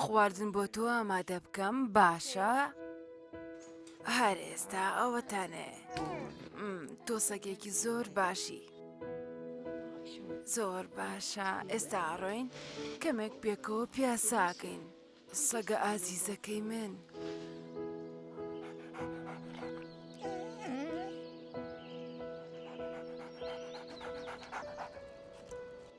خواردن بۆ تۆ ئامادە بکەم باشە؟ هەر ئێستا ئەوەتانێ تۆ سەگێکی زۆر باشی. زۆر باشە ئێستا ئاڕۆین کەمێک پێکەوە پیاساکەین سەگە ئازیزەکەی من.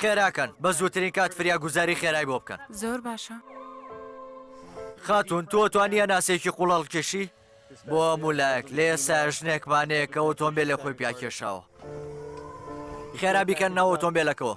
خێراکەن بە زووترین کات فریا گوزاری خێرای بۆ بکەن زۆر باشە خاتون تۆ توانیە ناسێکی قوڵەڵ کێشی بۆ مولایەک لێ ساژنێکمانەیەکە ئۆتۆمبیل لە خۆی پیاکێشاوە خێرا بیکەن ناو ئۆتۆمبیلەکەەوە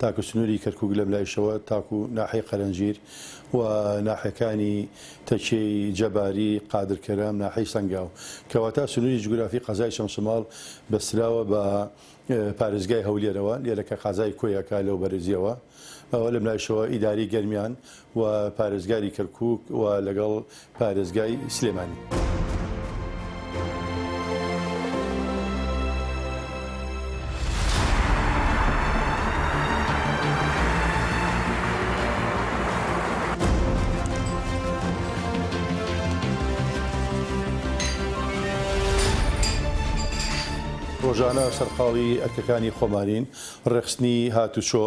تاکو سنوری کەرکوک لەملایشەوە تاکو ناحیەی قەرەنجیر و ناحیەکانی تەکیەی جەباری، قادر کەرەم، ناحیەی سەنگاو. کەواتە سنوری جوگرافی قەزای چەمچەماڵ بەستراوە بە پارێزگای هەولێرەوە لێرە کە قازای کۆیەکە لەوبەرزیەوە ئەوە لەملایشەوە ئیدارەی گەرمیان و پارێزگاری کەرکوک و لەگەڵ پارێزگای سلێمانی. ڕۆژانە سەرقاڵی ئەرکەکانی خۆمانین، ڕێکخستنی هاتوچۆ،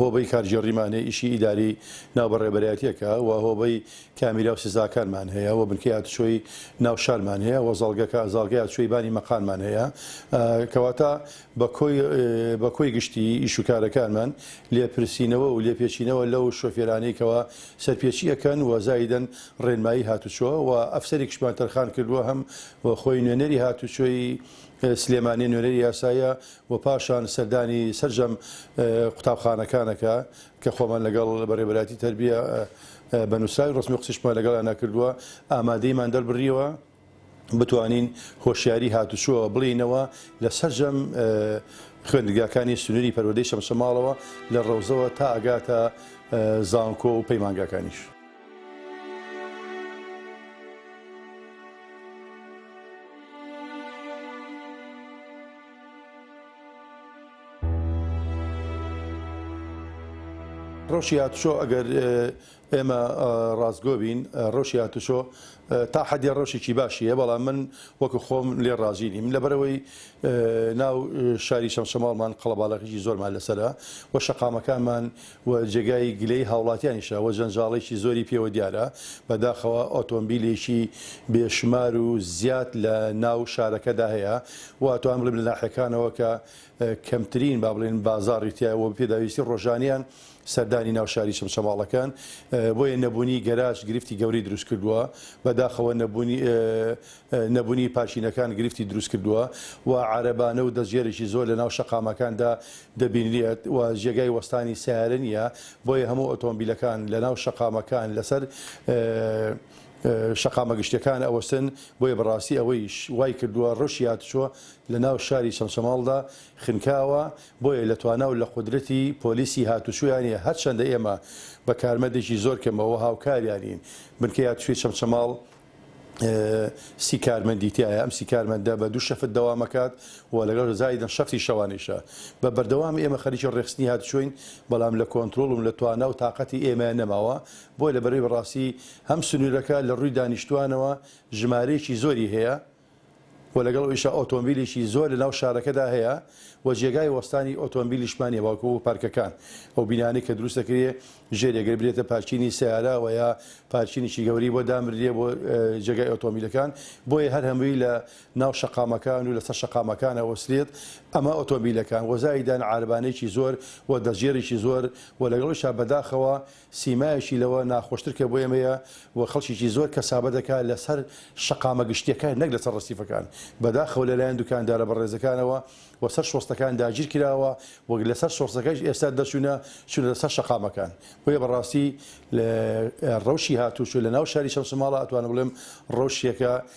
هۆبەی کارگێڕیمان هەیە، ئیشی ئیداری ناو بە ڕێبەرایەتیەکە و هۆبەی کامیرا و سزاکانمان هەیە و بنکەی هاتوچۆی ناو شارمان هەیە و زاڵگەکە زاڵگەی هاتوچۆی بانی مەقانمان هەیە کەواتە بە کۆی بە کۆی گشتی ئیش و کارەکانمان لێپرسینەوە و لێپێچینەوە لەو شۆفێرانەی کەوا سەرپێچی ئەکەن و زایدەن ڕێنمایی هاتوچۆ و ئەفسەرێکشمان تەرخان کردووە هەم خۆی نوێنەری هاتوچۆی سلێمانی نوێنەری یاسایە و پاشان سەردانی سەرجەم قوتابخانەکانەکە کە خۆمان لەگەڵ بەڕێوەبەرایەتی تەربیە بە نووسراوی ڕەسمی قسیشمان لەگەڵیانا کردووە ئامادەیمان دەربریەوە بتوانین هۆشیاری هاتوچۆ بڵینەوە لە سەرجەم خوێندگاکانی سنووری پەروەدەی شەمشەماڵەوە لە ڕەوزەوە تا ئەگاتە زانکۆ و پەیمانگاکانیش. ڕەوشی هاتووچۆ ئەگەر ئێمە ڕاستگۆ بین ڕەوشی هاتووچۆ تا حەدێ ڕەوشێکی باشی هەیە بەڵام من وەکو خۆم لێ ڕازی نیم لەبەرەوەی ناو شاری شەمشەماڵمان قەڵەباڵەخیی زۆرمان لەسرە و شەقامەکانمان و جێگای گلەی هاوڵاتیانیشە و جەنجاڵێکی زۆری پێوە دیارە، بەداخەوە ئۆتۆمبیلێکی بێ شمار و زیاد لە ناو شارەکەدا هەیە و ئەتوانم بڵیم لە ناحیەکانەوە کە کەمترین با بڵێن بازاڕی تیایە و پێداویستی ڕۆژانەیان سەردانی ناو شاری چەمچەماڵ ئەکەن بۆیە نەبونی گەراج گرفتی گەورەی دروست کردوە بەداخەوە نەبونی نەبونی پارکینەکان گرفتی دروست کردوە و عارەبانە و دەستگێرێکی زۆر لە ناو شەقامەکاندا دەبینرێت و جێگای وەستانی سەیارە نیە بۆیە هەموو ئۆتۆمبیلەکان لە ناو شەقامەکان لەسەر شەقامە گشتیەکان ئەوەستن بۆیە بەڕاستی ئەوەیش وای کردوە ڕەوشی هاتوچۆ لە ناو شاری چەمچەماڵدا خنکاوە بۆیە لە توانا و لە قودرەتی پۆلیسی هاتوچۆیان نیە هەرچەندە ئێمە بە کارمەندێکی زۆر کەمەوە هاوکاریانین بنکەی هاتوچۆی چەمچەماڵ سی کارمەندی تیایە، ئەم سی کارمەندە بە دوو شەفت دەوام ئەکات و لەگەڵ زایدن شەفتی شەوانەیشە. بە بەردەوام ئێمە خەریکی ڕێکخستنی هاتوچۆین، بەڵام لە کۆنترۆڵ و لە توانا و تاقەتی ئێمەیان نەماوە، بۆیە لە بەرەی بەڕاستی هەم سنوورەکە لە ڕووی دانیشتووانەوە ژمارەیەکی زۆری هەیە، و لەگەڵ ئەویشا ئۆتۆمبیلێکی زۆر لە ناو شارەکەدا هەیە و جێگای وەستانی ئۆتۆمبیلیشمان نیە بەڵکو پارکەکان ئەو بینانەی کە دروست دەکرێ ژێرێ گەر برێتە پارکینی سەیارە وە یا پارکینێکی گەورەی بۆ دامررێ بۆ جێگای ئۆتۆمبیلەکان بۆیە هەر هەمووی لە ناو شەقامەکان و لەسەر شەقامەکان ئەوەسرێت ئەمە ئۆتۆمبیلەکان وە زایدان عاربانێکی زۆر و دەستگێڕێکی زۆر و لەگەڵ ئەویشا بەداخەوە سیمایەکی لەوە ناخۆشتر کە بۆ ئێمەیە و خەڵکێکی زۆر کەسابە دەکات لەسەر شەقامە گشتییەکان نەک لەسەر ڕەسیفەکان، بەداخەوە لەلایەن دوکاندارە بەڕێزەکانەوە و سەر شۆستەکان داگیر کراوە و لەسەر شۆستەکەش ئێستا دەرچوونە چوونەتە سەر شەقامەکان، بۆیە بەڕاستی ڕەوشی هاتووچۆ لەناو شاری چەمچەماڵ ئەتوانم بڵێم ڕەوشێکە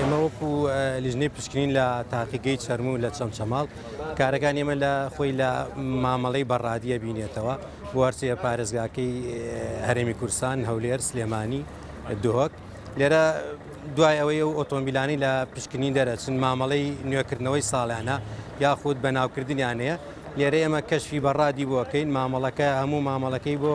ئێمە وەکو لیژنەی پشکنین لە تاقیگەی چەرموو لە چەمچەماڵ کارەکان ئێمە لە خۆی لە مامەڵەی بەڕادیە بینێتەوە بوارچەیە پارێزگاکەی هەرێمی کورسان هەولێر سلێمانی دهۆک لێرە دوای ئەوەی ئەو ئۆتۆمبیلانی لە پشکنین دەرەچن مامەڵەی نوێکردنەوەی ساڵیانە یاخود بەناوکردنیانەیە لێرە ئێمە کەشفی بەڕادی بۆکەین مامەڵەکە هەموو مامەڵەکەی بۆ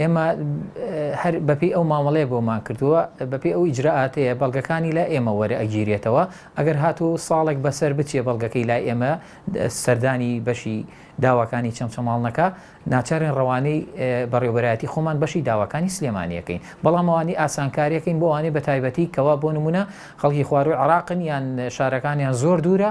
ئێمە هەر بەپێی ئەو مامەڵەیە بۆمان کردووە، بەپێی ئەو ئیجرائاتەیە بەڵگەکانی لای ئێمە وەرئەگیرێتەوە، ئەگەر هاتوو ساڵێک بەسەر بچێ بەڵگەکەی لای ئێمە سەردانی بەشی داواکانی چەمچەماڵ نەکا، ناچارین ڕەوانەی بەڕێوەبەرایەتی خۆمان بەشی داواکانی سلێمانی ئەکەین، بەڵام ئەوانەی ئاسانکاری ئەکەین بۆ ئەوانەی بەتایبەتی کەوا بۆ نموونە خەڵکی خوارووی عێراقن یان شارەکانیان زۆر دوورە،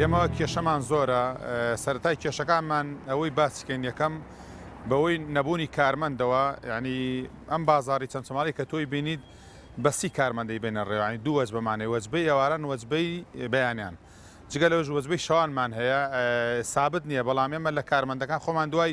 ئێمە کێشەمان زۆرە سەرەتای کێشەکانمان ئەوەی باسیکەین یەکەم بەوەی نەبوونی کارمەندەوە ینی ئەم بازاری چەمچەماڵی کە تۆی بینیت بەسی کارمەندەی بێنە ڕێوانی دوو وەج بەمانێ وەجبەی ئێواران وەجبەی بەیانیان جگە لەوەش وەجبەی شەوانمان هەیە سابت نییە بەڵام ئێمە لە کارمەندەکان خۆمان دوای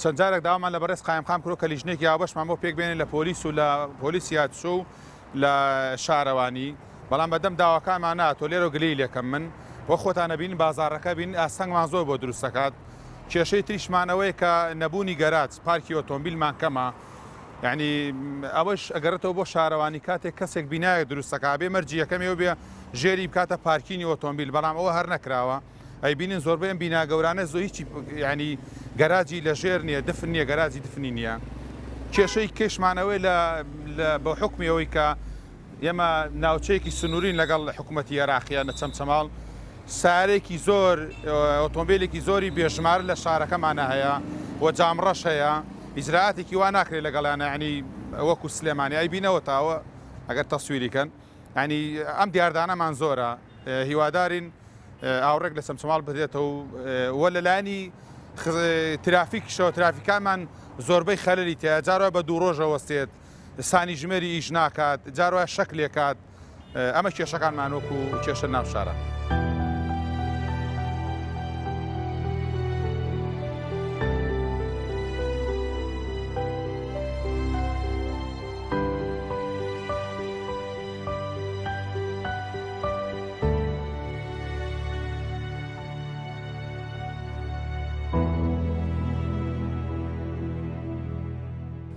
چەند جارێک داوامان لە بەڕێز قایمقام کرد کە لیژنەیەکی هاوبەشمان بۆ پێک بێنێت لە پۆلیس و لە پۆلیسی هاتوچۆ و لە شارەوانی، بەڵام بەردەم داواکانمان نەهاتووە، لێرەوە گلەیی لێ کەم من، وەک خۆتان ئەبینن بازاڕەکە بینن ئاستەنگمان زۆر بۆ دروست دەکات، کێشەی تریشمان ئەوەیە کە نەبوونی گەراج، پارکی ئۆتۆمبیلمان کەمە، یەعنی ئەوەش ئەگەڕێتەوە بۆ شارەوانی کاتێک کەسێک بینایەک دروست دەکات ئەبێ مەرجی یەکەمی ئەوە بێ ژێری بکاتە پارکینی ئۆتۆمبیل، بەڵام ئەوە هەر نەکراوە. ئەیبینن زۆربەی ئەم بینا گەورانە زۆ هیچی یعنی گەراجی لە ژێر نییە دفن نییە گەراجی دفنی نییە کێشەی کێشمانەوەی لە بە حکمی ئەوەی کە ئێمە ناوچەیەکی سنوورین لەگەڵ حکوومەتتی عێراقیە نە چەمچەماڵ سارێکی زۆر ئۆتۆمبیلێکی زۆری بێژمار لە شارەکەمانە هەیە و جامڕەش هەیە ئیجراتێکی وا ناکرێت لەگەڵیانە ینی وەکو سلێمانی ئەی بینەوە تاوە ئەگەر تەسووریکەن ینی ئەم دیاردانەمان زۆرە هیوادارین ئاوڕێک لە چەمچەماڵ بدرێتەوە و لەلایەنی ترافیکشەوە ترافیکانمان زۆربەی خەلری تیا جارە بە دوو ڕۆژە وەستێت سانی ژمێری ئیش ناکات جارە شەک لێکات ئەمە کێشەکانمان وەکو کێشە ناوشارە.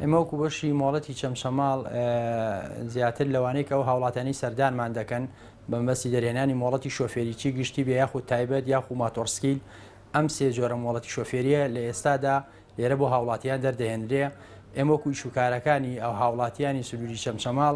ئێمە وەکو بەشی مۆڵەتی چەمچەماڵ زیاتر لەوانەیە ئەو هاوڵاتانی سەردانمان دەکەن بەمەسی دەرێنانی مۆڵەتی شۆفێریی گشتی بێ یاخود تایبەت یاخو ماتۆرسکیل ئەم سێ جۆرە مۆڵەتی شۆفێریە لە ئێستادا لێرە بۆ هاوڵاتیان دەردەهێنرێ ئێمەکو شوکارەکانی ئەو هاوڵاتیانی سنووری چەمچەماڵ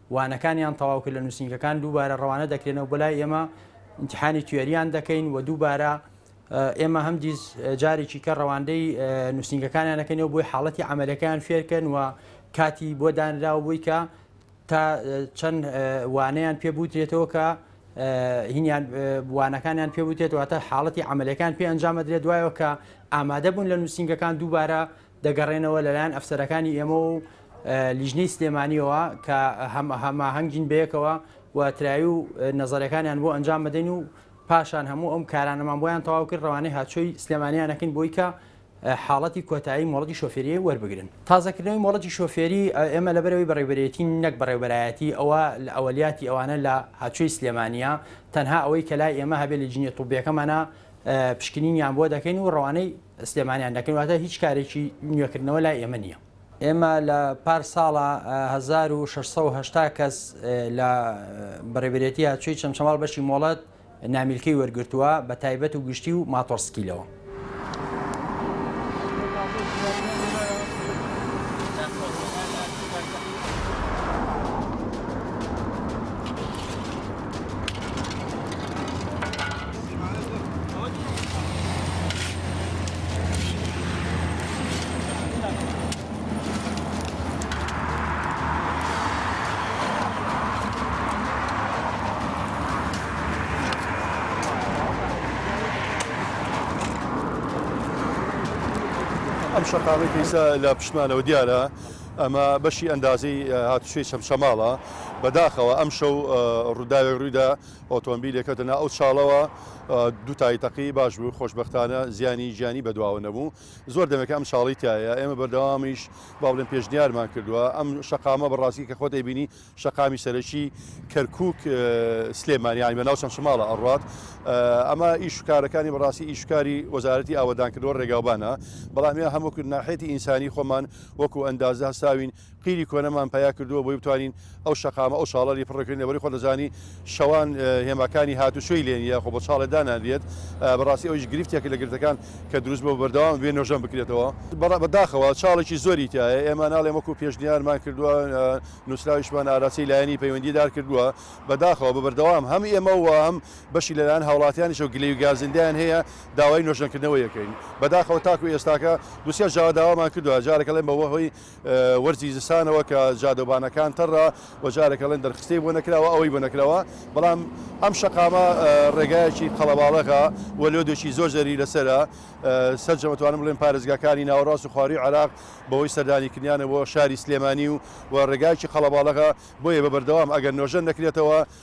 وانەکانیان تەواو کرد لە نووسینگەکان دووبارە ڕەوانە دەکرێنەوە بۆ لای ئێمە ئینتحانی توێریان دەکەین و دووبارە ئێمە هەم دیز جارێکی کە ڕەواندەی نووسینگەکانیان دەکەنەوە بۆی حاڵەتی ئەعملەکان فێرکەن و کاتی بۆ دانراو بووی کە تا چەند وانەیان پێ بوترێتەوە کە هینیان وانەکانیان پێ بوتێتەوە تا حاڵەتی ئەعملەکان پێ ئەنجامەدرێت دوایەوە کە ئامادە بوون لە نووسینگەکان دووبارە دەگەڕێنەوە لەلایەن ئەفسەرەکانی ئێمە و لیژنەی سلێمانیەوە کە هەماهەنگین بەیەکەوە و تراوی و نەزەرەکانیان بۆ ئەنجام بدەین و پاشان هەموو ئەم کارانەمان بۆیان تەواو کرد ڕەوانەی هاتچۆی سلێمانیانەکەین بۆی کە حاڵەتی کۆتایی مۆڵەتی شۆفێریی وەربگرن تازەکردنەوەی مۆڵەتی شۆفێری ئێمە لە بەرەوەی بەڕێبەرێتی نەک بەڕێبەرایەتی ئەوە لە ئەوەلیاتی ئەوانە لە هاچوی سلێمانە تەنها ئەوەی کە لای ئێمە هەبێ لە جنیە توبیەکەمانە پشکنینیان بۆ دەکەین و ڕەوانەی سلێمانیان دەکەین واتە هیچ کارێکی نوێکردنەوە لای ئێمە نییە. ئێمە لە پار ساڵە 1680 کەس لە بەڕێبرێتی هاتچوی چەمچەماڵ بەشی مۆڵەت نامیلکەی وەرگرتووە بە تایبەت و گشتی و ماتۆڕسکیلەوە. ئەم شەقامەی پیسە لە پشمانەوە دیارە ئەمە بەشی ئەندازی هاتوشوی چەمچەماڵە بەداخەوە ئەم شەو ڕووداوێک ڕوویدا ئۆتۆمبیل یەکەوتە ناو ئەو چاڵەوە دوتای تەقی باش بوو خۆشببختانە زیانی گیانی بەدواوە نەبوو زۆر دەمێکە ئەم چاڵی تایە ئێمە بەردەوامیش با بڵێن پێشنیارمان کردووە ئەم شقامە بەڕاستی کە خۆت ئەیبینی شقامی سەرەکی کەرکک سلێمانیانی بە ناو چەند شماڵە ئەڕات ئەمە ئیشکارەکانی بەڕاستی ئیشکاری وەزارەتی ئاوەدانکردوە ڕێگاوبانە بەڵام هەموو ناحێتی ئینسانی خۆمان وەکو ئەندازە هەساوین قیری کۆنەمان پەیا کردووە بۆی بتوانین ئەو شەقامە ئەو چاڵەری پڕ بکەین لەبەری خۆت دەزانی شەوان هێماکانی هاتوچۆی لێ نییە خۆ بە چاڵێ دانانرێت بەڕاستی ئەویش گرفتێکە لە گرفتەکان کە دروست بووە بەردەوام بێ نۆژەن بکرێتەوە بە داخەوە چاڵێکی زۆری تیایە ئێمە ناڵێم وەکو پێشنیارمان کردووە نووسراویشمان ئاراسی لایەنی پەیوەندی دار کردووە بە داخەوە بە بەردەوام هەم ئێمە و هەم بەشی لەلایەن هاوڵاتیانیشەوە گلەی و گازندەیان هەیە داوای نۆژەنکردنەوەی ئەکەین بە داخەوە تاکو ئێستاکە دوو سێ جار داوامان کردووە جارێک ئەڵێن بە هۆی وەرزی زستانەوە کە جادەوبانەکان تەڕە و جارێک ئەڵێن دەرخستەی بۆ نەکراوە ئەوەی بۆ نەکراوە بەڵام ئەم شەقامە ڕێگایەکی قەڵەباڵەغا و لۆدێکی زۆر زەری لەسرە سەرجەمەتوانم بڵێن پارێزگاکانی ناوەڕاست و خواروی عراق بەوەی سەردانی کردیانە بۆ شاری سلێمانی و و ڕێگایکی قەڵەباڵەغا بۆیە بە بەردەوام ئەگەر نۆژەن نەکرێتەوە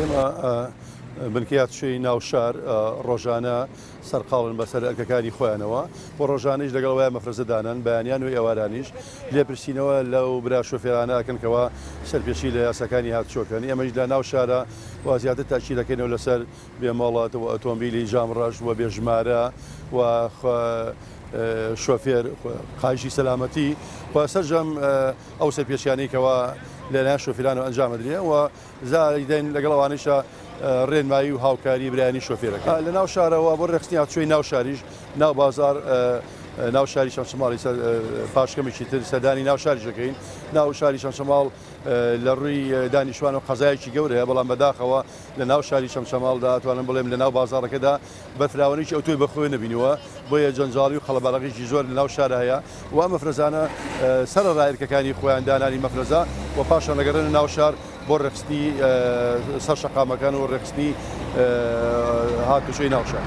ئێمە بنکەیات شوێی ناوشار ڕۆژانە سەرقاڵن بەسەر ئەرکەکانی خۆیانەوە و ڕۆژانیش لەگەڵ وای مەفرەزەدانان بەیانیان و ئێوارانیش لێپرسینەوە لەو برا شوفێرانەکەنکەوە سەرپێشی لە یاساکانی هاتچۆکەن ئێمەش لە ناو شارە و زیاتر تاچیلەکەینەوە لەسەر بێ مۆڵەت و ئۆتۆمبیلی جام ڕەش و بێ ژمارە و شۆفێر قایشی سەلامەتی و سەرجەم ئەو سەرپێچیانەی کەوا لەلایەن شۆفێرانەوە ئەنجام بدرێن و زاریدەن لەگەڵ ئەوانیشە ڕێنمایی و هاوکاری برانی شۆفێرەکە لە ناو شارەوە بۆ ڕێخستنی هاچوی ناو شاریش ناو بازار ناو شاری شەمشماڵی پاشکەمێکی تر سەدانی ناو شاریشەکەین ناو شاری شەمشماڵ لە ڕووی دانیشتوانەوە قەزایەکی گەورەیە، بەڵام بەداخەوە لە ناو شاری چەمچەماڵدا ئەتوانم بڵێم لە ناو بازاڕەکەدا بە فراوانی ئەوتۆی بەخۆوێ نەبینیوە، بۆیە جەنجاڵی و قەڵەباڵغیی زۆر لە ناو شارا هەیە و ئەم مەفرەزانە سەرەڕای ئەرکەکانی خۆیان دانانی مەفرەزە و پاشان ئەگەڕێنە ناو شار بۆ ڕێکخستنی سەر شەقامەکان و ڕێکخستنی هاتوچۆی ناو شار.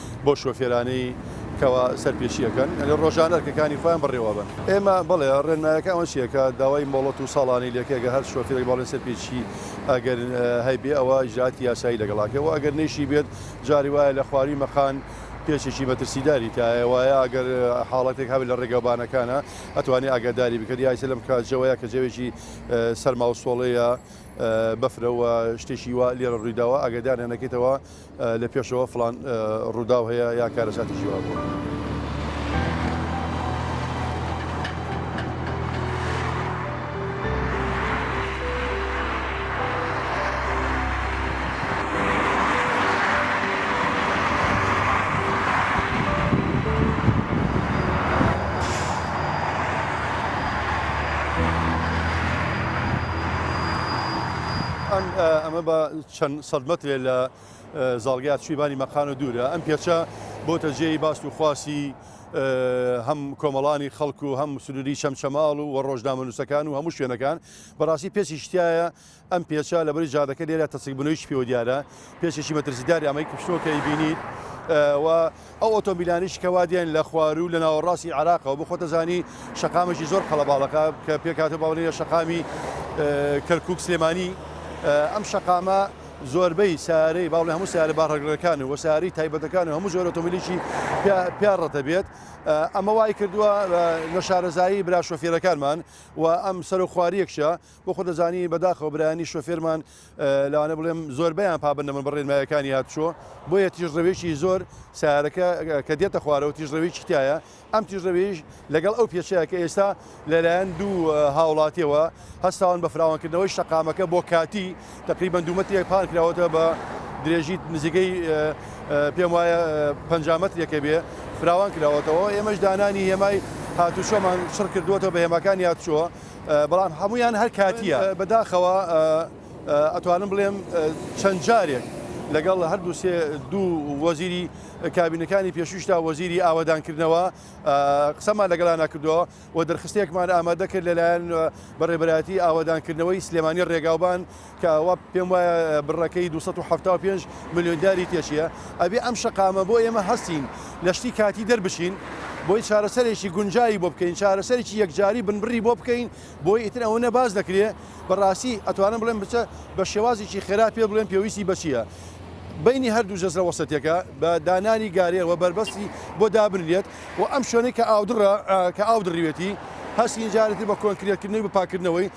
بۆ شۆفێرانەی کەوا سەرپێچی ئەکەن ئەگەر ڕۆژانە ئەرکەکانی خۆیان بەڕێوە بن ئێمە بڵێ ڕێنمایەکە ئەوە چیەکە داوای مۆڵەت و ساڵانەی لەکەگە هەر شۆفێرێک باڵێن سەرپێچی ئەگەر هەیبێ ئەوە ژاتی یاسایی لەگەڵاکە و ئەگەر نەیشی بێت جاری وایە لە خواری مەقان پێچێکی مەترسیداری تایە وایە ئەگەر حاڵەتێک هەبێت لە ڕێگەوبانەکانە ئەتوانێ ئاگاداری بکرد یاسە لەم کاتجەوەیە کە جەوێکی سەرماوسۆڵەیە بەفرەوە شتێکی وا لێرە ڕوویداوە ئاگدانە نەکەیتەوە لە پێشەوە فڵان ڕووداو هەیە یا کارەساتێکی وا بووە. چەند سەد مەترێ لە زاڵگا چویبانی مەقانۆ دوورە، ئەم پێچە بۆتە جێی باس و خواسی هەم کۆمەڵانی خەڵک و هەم سنووری چەمچەماڵ و ڕۆژنامەنووسەکان و هەموو شوێنەکان، بەڕاستی پێچێکی تیایە، ئەم پێچە لەبەری جادەکە لێرە تەسکبوونەوەیەکی پێوە دیارە، پێچێکی مەترسیداری ئەمەی کوشتووە کە ئەیبینیت و، ئەو ئۆتۆمبیلانەیش کە وا دێن لە خواروو لە ناوەڕاستی عێراقەوە بخۆتە زانی شەقامێکی زۆر قەڵەباڵەکە کە پێکهاتە باڵێە شەقامی کەرکک سلێمانی ئەم شەقامە زۆربەی سارەی باڵێ هەموو سارە باڕگرەکان و ساری تایبەتەکان و هەموو زۆر ئۆتۆمبیلێکی پیاڕەتە بێت ئەمە وای کردووە لە شارەزایی برا شۆفێرەکانمان و ئەم سەر و خواریەکشە بۆ خۆت دەزانی بەداخەوە برایانی شۆفێرمان لەوانە بڵێم زۆربیان پابند نەبن بە ڕێنمایەکانی هاتوچۆ بۆیە تیژڕەوێکی زۆر سارەکە کە دێتە خوارەوە تیژڕەوێکی تایە ئەم تیژڕەوێش لەگەڵ ئەو پێچەیە کە ئێستا لەلایەن دوو هاوڵاتیەوە هەستاون بە فراوانکردنەوەی شەقامەکە بۆ کاتی تقریبان دوومەتێک پان کراوەتە بە درێژی نزیکەی پێم وایە پ مەترێکە بێ فراوان کراوەتەوە ئێمەش دانانی هێمای هاتوچۆمان شڕ کردوەتەوە بە هێماکانی هاتوچۆ بەڵام هەموویان هەر کاتییە. بەداخەوە ئەتوانم بڵێم چەند جارێک لەگەڵ هەردوو سێ دوو وەزیری کابینەکانی پێشوویشدا وەزیری ئاوەدانکردنەوە قسەمان لەگەڵانا کردووە و دەرخستێکمان ئامادە کرد لەلایەن بە ڕێبەرایەتی ئاوەدانکردنەوەی سلێمانی ڕێگاوبان کە ئەوە پێم وایە بڕەکەی دوو سەد و حەفتا و پێنج ملیۆن دیاری تێچییە، ئەبێ ئەم شەقامە بۆ ئێمە هەستین لە شتی کاتی دەربچین، بۆی چارەسەرێکی گونجاوی بۆ بکەین، چارەسەرێکی یەکجاری بنبڕی بۆ بکەین، بۆی ئیتر ئەوەنە باس دەکرێ بەڕاستی ئەتوانم بڵێم بچە بە شێوازێکی خێرا پێ بڵێم پێویستی بە چییە بەینی هەردوو جەزرە وەسەتیەکە بە دانانی گارێ و بەربەستی بۆ دابنرێت و ئەم شوێنەی کە ئاودڕە کە ئاو دڕیوێتی هەستین جارێتی بە کۆنکرێتکردنەوەی بە پاکردنەوەی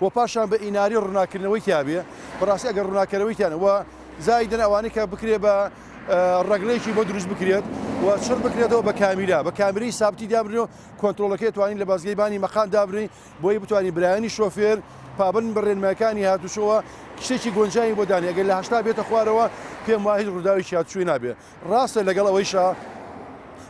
وە پاشان بە ئیناری ڕونا کردنەوەی تیا بێ بەڕاستی ئەگەر ڕونا کەرەوەی تیانە وە زایدن ئەوانەی کە بکرێ بە ڕەگرێکی بۆ دروست بکرێت و چڕ بکرێتەوە بە کامیرا بە کامیری سابتی دابرێ و کۆنتترۆلەکەی توانین لە بازگەی بانی مەقام دابرین بۆی بتوانین برایانی شۆفێر پابند بڕێنمایەکانی هاتوچۆوە کشتێکی گۆنجانی بۆ دانێ گەل لە هەشتا بێتە خوارەوە پێم وای هیچ ڕووداوی شیاتچووی نابێ ڕاستە لەگەڵ ئەوەیشە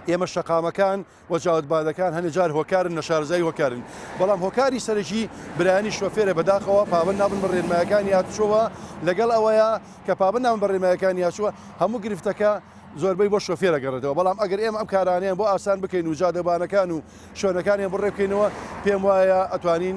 ئێمە شەقامەکان و چاوت بادەکان هەنێ جار هۆکارن نەشارەزایی هۆکارن بەڵام هۆکاری سەرەکی برایانی شۆفێرە بەداخەوە پابەند نابن بە ڕێنمایەکانی هاتوچۆوە لەگەڵ ئەوەیە کە پابەند نابن بە ڕێنمایەکانی هاتووە هەموو گرفتەکە زۆربەی بۆ شۆفێرە گەڕێتەوە بەڵام ئەگەر ئێمە ئەم کارانیان بۆ ئاسان بکەین و جادەبانەکان و شوێنەکانیان بڕێ بکەینەوە پێم وایە ئەتوانین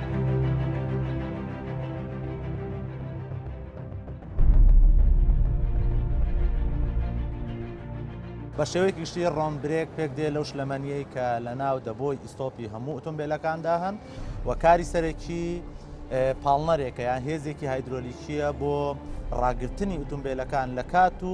بە شێوەی گشتی ڕۆم برێک پێک دێ لەو شلەمەنیەی کە لە ناو دەبۆی ئیستۆپی هەموو ئۆتۆمبیلەکاندا هەن و کاری سەرەکی پاڵنەرێکە یان هێزێکی هایدرۆلیکیە بۆ ڕاگرتنی ئۆتۆمبیلەکان لە کات و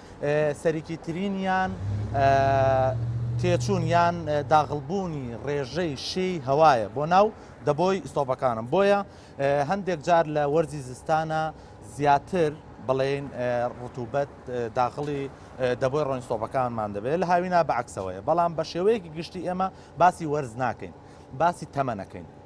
سەرەکیترینیان تێچوون یان داغڵبوونی ڕێژەی شێی هەوایە بۆ ناو دەبۆی ئیسۆپەکانم بۆیە هەندێک جار لە وەرزی زستانە زیاتر بڵێن ڕتوبەت داغڵی دەبۆی ڕۆنسۆپەکانمان دەبێت لە هاوینا بەعکسەوەیە بەڵام بە شێوەیەکی گشتی ئێمە باسی وەرز ناکەین باسی تەمەنەکەین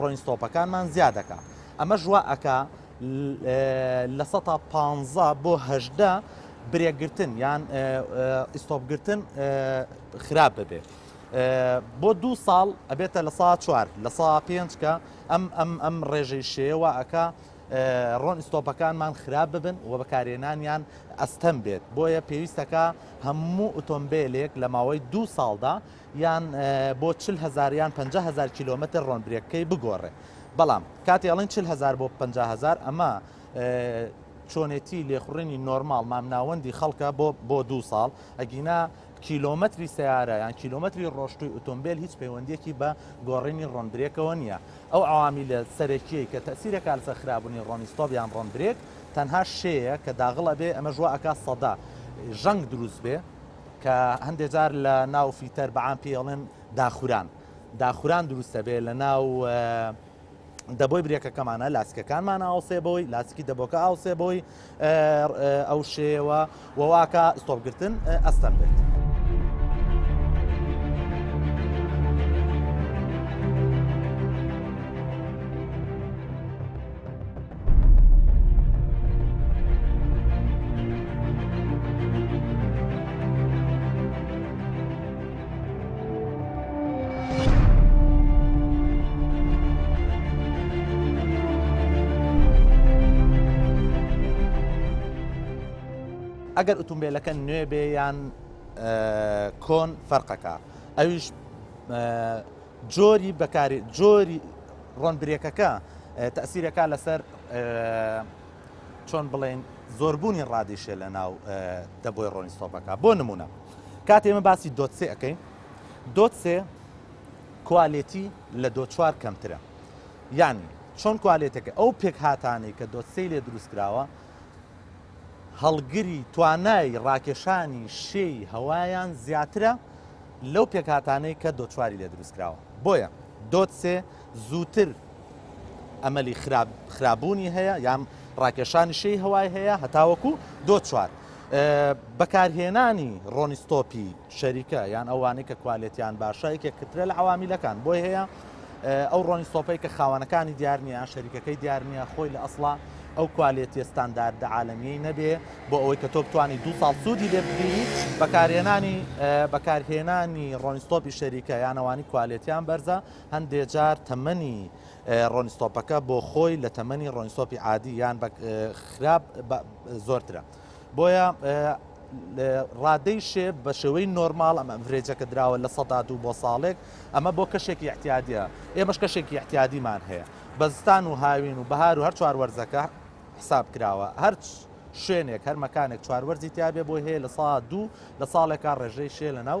ڕۆین ستۆپەکانمان زیا دەکا ئەمە ژوا ئەکا لە سە پ بۆ هەشدا برێگرتن یان ئیسۆپگرتن خراپ ببێت. بۆ دوو ساڵ ئەبێتە لە سا چوار لە سا پێنج کە ئەم ئەم ئەم ڕێژەی شێوە ئەکا ڕۆن ئیسۆپەکانمان خراپ ببن و بەکارێنانیان ئەستەم بێت بۆیە پێویستەکە هەموو ئۆتۆمبیلێک لە ماوەی دوو ساڵدا یان بۆ چل هەزار یان پەنجا هەزار کیلۆمەتر ڕۆنبرێکەکەی بگۆڕێ بەڵام کاتی ئەڵین چل هەزار بۆ پ هزار ئەمە چۆنێتی لێخوڕینی نۆرمال مامناوەندی خەڵکە بۆ بۆ دوو ساڵ ئەگینا کیلۆمەتری سیارە یان کیلۆمەتری ڕۆشتوی ئۆتۆمبیل هیچ پەیوەندیەکی بە گۆڕینی ڕۆنبرێکەوە نییە ئەو عوامی لە سەرەکیەی کە تەسیرە کالسە خراببوونی ڕۆنیستۆب یان ڕۆنبرێک تەنها شەیە کە داغڵە بێ ئەمە ژوە ئەک سەدا ژەنگ دروست بێ کە هەندێ جار لە ناو فیتەر بە عام پێی ئەڵێن داخوران داخوران دروست دەبێت لە ناو دەبۆی برێکەکەمانە لاسکەکانمان ئاوسێ بۆی لاسکی دەبۆکە ئاوسێ بۆی ئەو شێوە وواکە ستۆپگرتن ئەستەم بێت. ئەگەر ئوتومبیلەکە نوێ بێ یان کۆن فەرقەکە ئەویش جۆری بەکاری جۆری ڕۆن برێکەکە تەسیرەکە لەسەر چۆن بڵێن زۆربوونی ڕادیشە لە ناو دەبۆی ڕۆنی سۆپەکە بۆ نمونە کات ئێمە باسی دۆتسێ ئەەکەین دۆتسێ کوالێتی لە دۆ چوار کەمترە یعنی چۆن کوالێتەکە ئەو پێک هااتانەی کە دۆتسەی لێ دروست کراوە هەڵگری توانای ڕاکێشانی شێی هەوایان زیاترە لەو پێکهاتانەی کە دۆت چواری لێ دروست کراوە بۆیە دۆت سێ زووتر ئەمەلی خراپ خرابوونی هەیە یان ڕاکێشانی شێی هەوای هەیە هەتاوەکو دۆت چوار بەکارهێنانی ڕۆنیستۆپی شەریکە یان ئەوانەی کە کوالێتیان باشە یەکێک کترە لە عوامیلەکان بۆی هەیە ئەو ڕۆنی سۆپەی کە خاوانەکانی دیار نییە شەریکەکەی دیار نییە خۆی لە ئەسڵا ئەو کوالێتیە ستانداردە عاالمیی نەبێ بۆ ئەوەی کە تۆ بتانی دو ساڵ سوودی لێ بگیری بەکارهێنانی بەکارهێنانی ڕۆنیستۆپی شەریکە یانەوانی کوالێتیان بەرزە هەندێ جار تەمەنی ڕۆنیستۆپەکە بۆ خۆی لە تەمەنی ڕۆنیستۆپی عادی یان خراپ زۆرترە. بۆیە ڕادەی شێ بە شێوەی نۆرمال ئەم ئەڤرێجە کە دراوە لە سەدا دوو بۆ ساڵێک ئەمە بۆ کەشێکی احتیادیە ئێمەش کەشێکی احتیادیمان هەیە بەزستان و هاوین و بەهار و هەر چوار وەرزەکە حساب کراوە هەرچ شوێنێک هەر مەکانێک چوار وەرزی تیاابێ بۆی هەیە لە سا دوو لە ساڵێکا ڕێژەی شێ لە ناو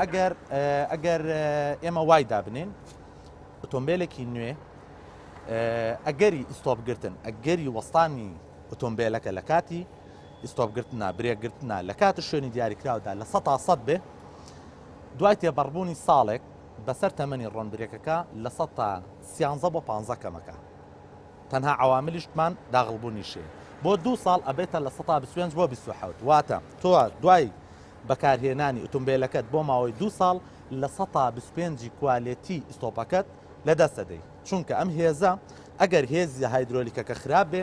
ئەگەر ئەگەر ئێمە وای دابنین ئۆتۆمبیلێکی نوێ ئەگەری ئیسۆبگرتن ئەگەری وەستانی ئۆتۆمبیلەکە لە کاتی ئیستۆپ گرتنە، برێک گرتنە، لە کات و شوێنی دیاریکراودا لە سەتا سەد بێ، دوای تێپەڕبوونی ساڵێک بەسەر تەمەنی ڕۆن برێکەکە لە سەتا سیانزە بۆ پانزە کەمەکە. تەنها عەواملیشتمان داغڵبوونی شێ بۆ دوو ساڵ ئەبێتە لە سەتا بیست و پێنج بۆ بیست و حەوت، واتە تۆ دوای بەکارهێنانی ئوتومبێلەکەت بۆ ماوەی دوو ساڵ لە سەتا بیست و پێنج ی کوالێتی ئیستۆپەکەت لەدەست ئەدەی، چونکە ئەم هێزە ئەگەر هێزی هایدرۆلیکەکە خراپ بێ،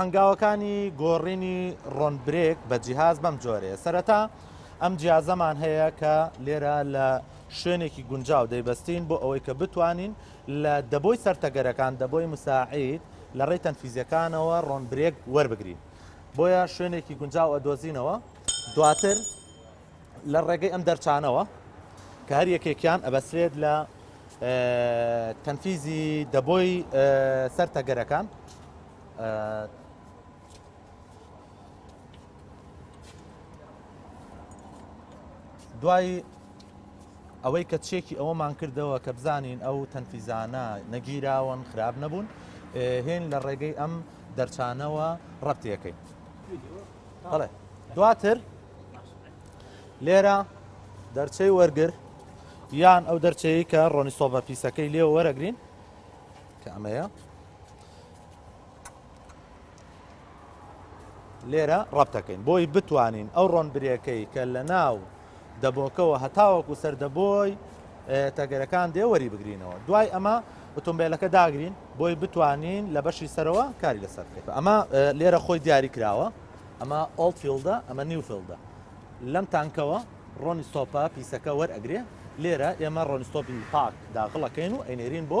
هەنگاوەکانی گۆڕینی ڕۆنبرێک بە جیهاز بەم جۆرێ سەرەتا ئەم جیازەمان هەیە کە لێرە لە شوێنێکی گونجاو دەیبەستین بۆ ئەوەی کە بتوانین لە دەبۆی سەرتەگەرەکان دەبۆی مساعید لە ڕێی تەنفیزیەکانەوە ڕۆنبرێک وەربگرین بۆیە شوێنێکی گونجاو ئەدۆزینەوە دواتر لە ڕێگەی ئەم دەرچانەوە کە هەر یەکێکیان ئەبەسرێت لە تەنفیزی دەبۆی سەر تەگەرەکان دوای ئەوەی کە چێکی ئەوەمان کردەوە کە بزانین ئەو تەنفیزانە نەگیراون خراپ نەبوون هێن لە ڕێگەی ئەم دەرچانەوە ڕەتیەکەی بەڵێ دواتر لێرە دەرچەی وەرگر یان ئەو دەرچەیە کە ڕۆنی سۆبە پیسەکەی لێ وەرەگرین کە ئەمەیە لێرە ڕەبتەکەین بۆی بتوانین ئەو ڕۆن برێەکەی کە لە ناو دەبۆکەوە هەتاوەکو سەر دەبۆی تەگەرەکان دێ وەری بگرینەوە دوای ئەمە ئۆتۆمبیلەکە داگرین بۆی بتوانین لە بەشی سەرەوە کاری لەسەر بکەین ئەمە لێرە خۆی دیاری کراوە ئەمە ئۆڵفیلدە ئەمە نیوفیلدە لەم تانکەوە ڕۆنی ستۆپە پیسەکە وەرئەگرێ لێرە ئێمە ڕۆنستۆپی پاک داخڵەکەین و ئەینێرین بۆ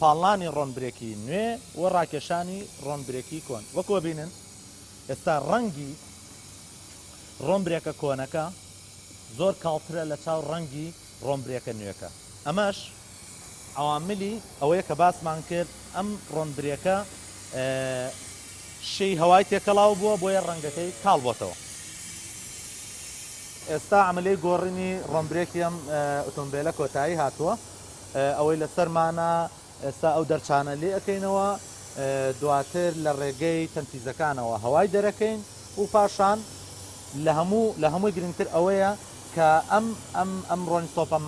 پاڵنانی ڕۆنبرێکی نوێ و ڕاکێشانی ڕۆنبرێکی کۆن وەکۆ بینن ئێستا ڕەنگی ڕۆنبرێکە کۆنەکە زۆر کاڵترە لە چاو ڕەنگی ڕۆنبرێکە نوێەکە ئەمەش عواملی ئەوەیە کە باسمان کرد ئەم ڕۆنبرێکە شی هەوای تێکەڵاو بووە بۆیە ڕەنگەکەی کاڵ بۆتەوە ئێستا ئەمەلەی گۆڕینی ڕۆمبرێکی ئەم ئۆتۆمبیلە کۆتایی هاتووە ئەوەی لەسەرمانە ئێستا ئەو دەرچانە لێ ئەکەینەوە دواتر لە ڕێگەی تەنفیزەکانەوە هەوای دەرەکەین و پاشان لە هەموو لە هەمووی گرنگتر ئەوەیە کە ئەم ئەم ئەم ڕۆنی سۆپە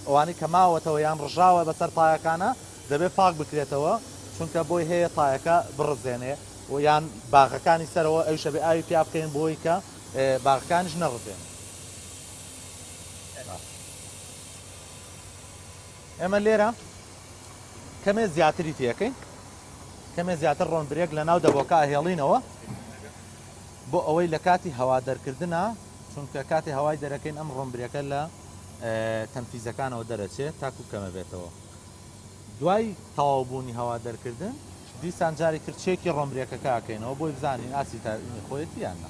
ئەوانەی کە ماوەتەوە یان ڕژاوە بەسەر تایەکانە دەبێت پاک بکرێتەوە چونکە بۆی هەیە تایەکە بڕزێنێ و یان باغەکانی سەرەوە ئەو شەبێ ئاوی پیا بکەین بۆی کە باغەکانیش نەڕزێنێ ئێمە لێرە کەمێ زیاتری تێەکەین کەمێ زیاتر ڕۆن برێک لە ناو دەبۆکە هێڵینەوە بۆ ئەوەی لە کاتی هەوا دەرکردە چونکە کاتی هەوای دەرەکەین ئەم ڕۆمبرێکە لە تەنفیزەکانەوە دەرەچێت تاکو کەمە بێتەوە دوای تەواوبوونی هەوا دەرکردن دیسان جاری ترچێکی ڕۆمبرێکەکەکەینەوە بۆی بزانین ئاسی تا خۆیەتی یاننا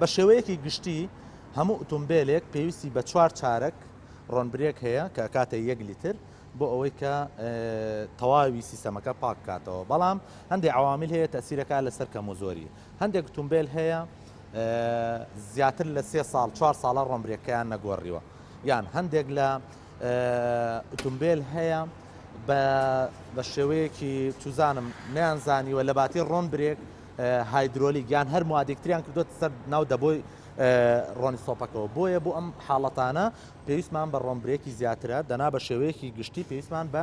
بە شێوەیەکی گشتی هەموو ئوتومبیلێک پێویستی بە چوار چارەک ڕۆنبرێک هەیە کە کاتە یەک لیتر بۆ ئەوەی کە تەواوی سیستەمەکە پاک کاتەوە بەڵام هەندێک عوامل هەیە تەسیرەکە لەسەر کەم و زۆری هەندێک ئوتومبیل هەیە زیاتر لە سێ ساڵ چوار ساڵە ڕۆمبرێکیان نەگۆڕیوە یان هەندێک لە ئوتومبیل هەیە بە بە شێوەیەکی توزانم نیان زانیوە لە باتی ڕۆن برێک هایدرۆلیک یان هەر موادێکتریان کردوت سەر ناو دەبۆی ڕۆنی سۆپەکەەوە بۆیە بۆ ئەم حاڵەتانە پێویستمان بە ڕۆمبرێکی زیاترە دەنا بە شێوەیەکی گشتی پێویستمان بە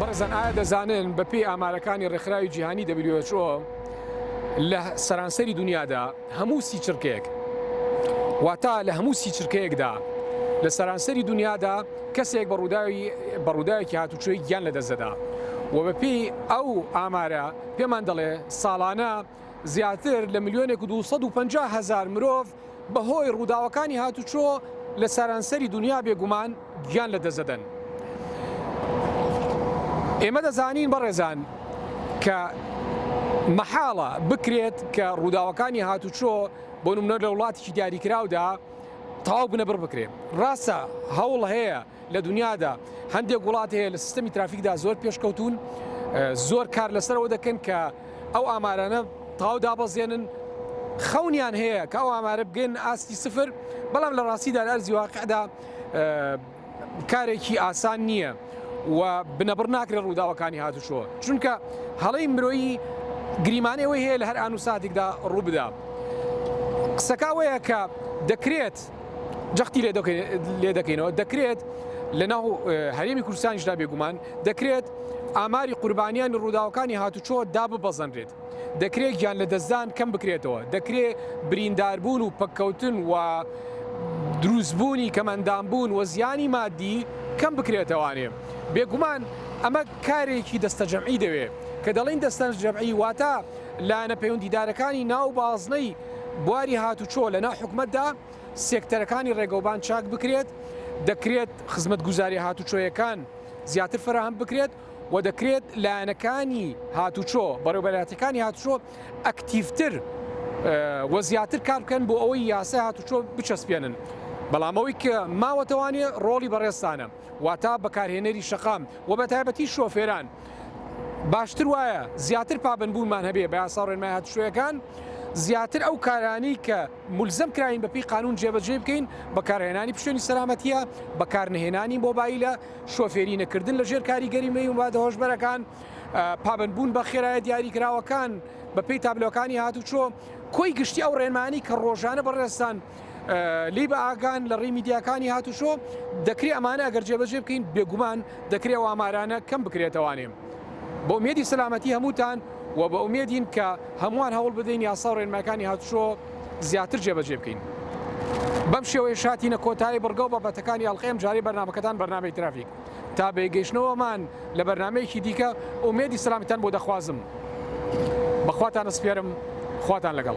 بەڕێزان ئایا دەزانن بەپێی ئامارەکانی ڕێکخراوی جیهانی WHO لە سەرانسەری دنیادا هەموو سی چرکەیەک، واتە لە هەموو سی چرکەیەکدا لە سەرانسەری دونیادا کەسێک بە ڕووداوی بە ڕووداوێکی هاتوچۆی گیان لە دەست دەدا و بە پێی ئەو ئامارە پێمان دەڵێ ساڵانە زیاتر لە ملیۆنێک و دوو سەد و پەنجا هەزار مرۆڤ بە هۆی ڕووداوەکانی هاتوچۆ لە سەرانسەری دونیا بێگومان گیان لە دەست دەدەن. ئێمە دەزانین بەڕێزان کە مەحاڵە بکرێت کە ڕووداوەکانی هاتوچۆ بۆ نمونە لە وڵاتیی دیاریکراودا تەواو بنەبڕ بکرێت ڕاستە هەوڵ هەیە لە دنیادا هەندێک وڵات هەیە لە سیستەمی ترافیکدا زۆر پێشکەوتون زۆر کار لەسەرەوە دەکەن کە ئەو ئامارانە تاو دابەزێنن خەونیان هەیە کە ئەو ئامارە بگەن ئاستی سفر بەڵام لە ڕاستیدا لە ئەرزی واقعدا کارێکی ئاسان نییە و بنەبڕ ناکرێت ڕووداوەکانی هاتوچۆ چونکە هەڵی مرۆیی گریمانەی ئەوەی هەیە لە هەر ئان و ساتێکدا ڕوو بدا قسەکەوەیە کە دەکرێت جەختی لێ دەکەینەوە دەکرێت لە ناو هەرێمی کوردستانیشدا بێگومان دەکرێت ئاماری قوربانیان ڕووداوەکانی هاتوچۆ دا ببەزەنرێت دەکرێت گیانلەدەستدان کەم بکرێتەوە، دەکرێت برینداربوون و پەککەوتن و دروستبوونی کەمئەندامبوون و زیانی ماددی کەم بکرێتەوانێ. بێگومان ئەمە کارێکی دەستەجەمعی دەوێت، کە دەڵێین دەستەجەمعی واتە لایەنە پەیوەندیدارەکانی ناو بازنەی بواری هاتوچۆ لە ناو حکومەتدا، سێکتەرەکانی ڕێگەوبان چاک بکرێت، دەکرێت خزمەتگوزاریە هاتوچۆیەکان زیاتر فەراهەم بکرێت. و دەکرێت لایەنەکانی هاتوچۆ بەڕێوبەرایەتەکانی هاتوچۆ ئەکتیفتر و زیاتر کار بکەن بۆ ئەوەی یاسای هاتوچۆ بچەسپێنن بەڵامەوەی کە ماوەتەوانێ ڕۆڵی بەڕێستانە واتا بەکارهێنەری شەقام و بە تایبەتی شۆفێران باشتر وایە زیاتر پابندبوونمان هەبێ بە یاسا ڕێنمای هاتوشوەکان زیاتر ئەو کارانی کە ملزم کراین بەپی قانون جێبەجێ بکەین بەکارهێنانی پشێنی سەلامەتیە بەکارنهێنانی مۆبایلە شۆفێری نەکردن لە ژێر کاریگەری مەی و مادە هۆشبەرەکان، پابەندبوون بە خێرایە دیاریکراوەکان بەپێی تابلۆکانی هاتوچۆ، کۆی گشتی ئەو ڕێنمایانەی کە ڕۆژانە بەڕێزتان لێی بە ئاگان لە ڕێی میدیاکانی هاتوچۆ، دەکرێ ئەمانە ئەگەر جێبەجێ بکەین بێگومان دەکرێ ئەو ئامارانە کەم بکرێتەوانێ. بە ئومێدی سەلامەتی هەمووتان و بە ئومێدین کە هەمووان هەوڵ بدەین یاسا و ڕێنمایەکانی هاتوچۆ، زیاتر جێبەجێ بکەین. بەم شێوەیەش هاتینە کۆتایی بڕگە و بابەتەکانی ئەڵقەی ئەمجارەی بەرنامەکەتان بەرنامەی ترافیک. تا بەیگەیشتنەوەمان لە بەرنامەیەکی دیکە ئومێدی سەلامەتیتان بۆ دەخوازم. بە خواتان ئەسپێرم. خواتان لەگەڵ.